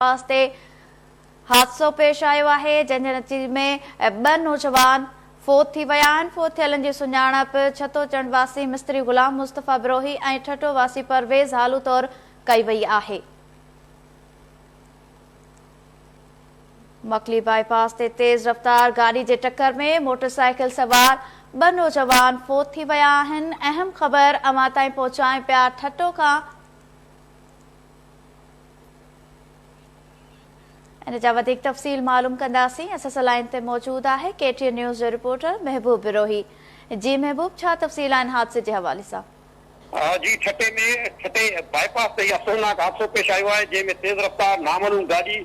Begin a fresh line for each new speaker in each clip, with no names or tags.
پاس تي حادثو پيش آيو آهي جنهن جي نتيجي ۾ ٻه نوجوان فوت ٿي ويا آهن فوت ٿيلن جي سڃاڻپ ڇتو چنڊ واسي مستري غلام مصطفي بروهي ۽ ٺٽو واسي پرويز هالو طور ڪئي وئي آهي مڪلي باء پاس تي تيز رفتار گاڏي جي ٽڪر ۾ موٽر سائيڪل سوار ٻه نوجوان فوت ٿي ويا آهن اهم خبر اوهان تائين پهچائين پيا ٺٽو کان ان جا وڌيڪ تفصيل معلوم ڪنداسين اس اس لائين تي موجود آهي ڪي ٽي اين نيوز جو رپورٽر محبوب بروهي جي محبوب ڇا تفصيل آهن حادثي جي حوالي سان. جي
ٺٽي ۾ ٺٽي باء پاس تي اهي افسوسناڪ حادثو پيش آيو آهي جنهن ۾ تيز رفتار نامعلوم گاڏي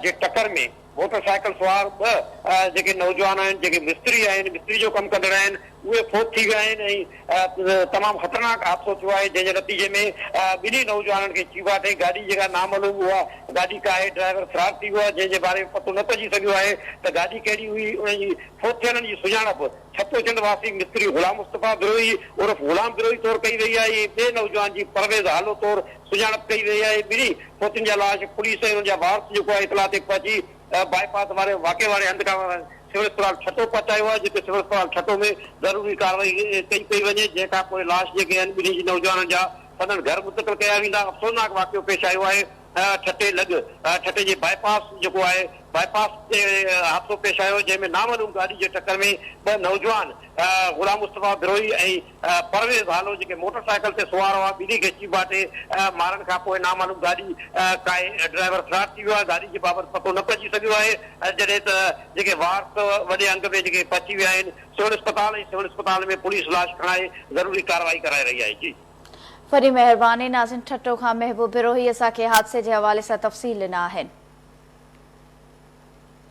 جي ٽڪر ۾ موٽر سائيڪل سوار ٻه جيڪي نوجوان آهن جيڪي مستري آهن مستري جو ڪم ڪندڙ آهن اهي فوت ٿي ويا آهن ۽ تمام خطرناڪ حادثو ٿيو آهي جنهن جي نتيجي ۾ ٻنهي نوجوانن کي چيڀا ٺهي گاڏي جيڪا نامعلوم اها گاڏي ڪا آهي ڊرائيور فرار ٿي ويو آهي جنهن جي باري ۾ پتو نه پئجي سگهيو آهي ته گاڏي ڪهڙي هئي انهن جي فوت ٿيلن جي سڃاڻپ ڇپوچنڊ واسي مستري غلام مصطفيٰ بروهي عرف غلام بروهي طور ڪئي وئي آهي ۽ ٻئي نوجوان جي پرويز هالو طور سڃاڻپ ڪئي ويئي آهي، ٻنهي فوتين جا لاش پوليس ۽ انهن جا وارث جيڪو آهي اطلاع تي پهچي باء پاس واري واقعي واري هنڌ کان سول اسپتال ٺٽو پهچايو آهي جتي سول اسپتال ٺٽو ۾ ضروري ڪارروائي ڪئي پئي وڃي جنهن کان پوء لاش جيڪي آهن ٻنهي جي نوجوانن جا سندن گهر منتقل ڪيا ويندا افسوسناڪ واقعو پيش آيو آهي ٺٽي لڳ ٺٽي جي باء پاس جيڪو آهي باء پاس تي حادثو پيش آيو جنهن ۾ نامعلوم گاڏي جي ٽڪر ۾ ٻه نوجوان غلام مصطفيٰ بروهي ۽ پرويز هالو جيڪي موٽر سائيڪل تي سوار هئا ٻنهي کي چيڀاٽي مارڻ کانپوء نامعلوم گاڏي ڪاهي ڊرائيور فرار ٿي ويو آهي گاڏي جي بابت پتو نه پئجي سگهيو آهي جڏهن ته جيڪي وارث وڏي انگ ۾ جيڪي پهچي ويا آهن سول اسپتال ۽ سول اسپتال ۾ پوليس لاش کڻائي ضروري ڪارروائي ڪرائي رهي آهي جي. وڏي
مهرباني ناظرين ٺٽو کان محبوب بروهي اسان کي حادثي جي حوالي سان تفصيل ڏنا آهن.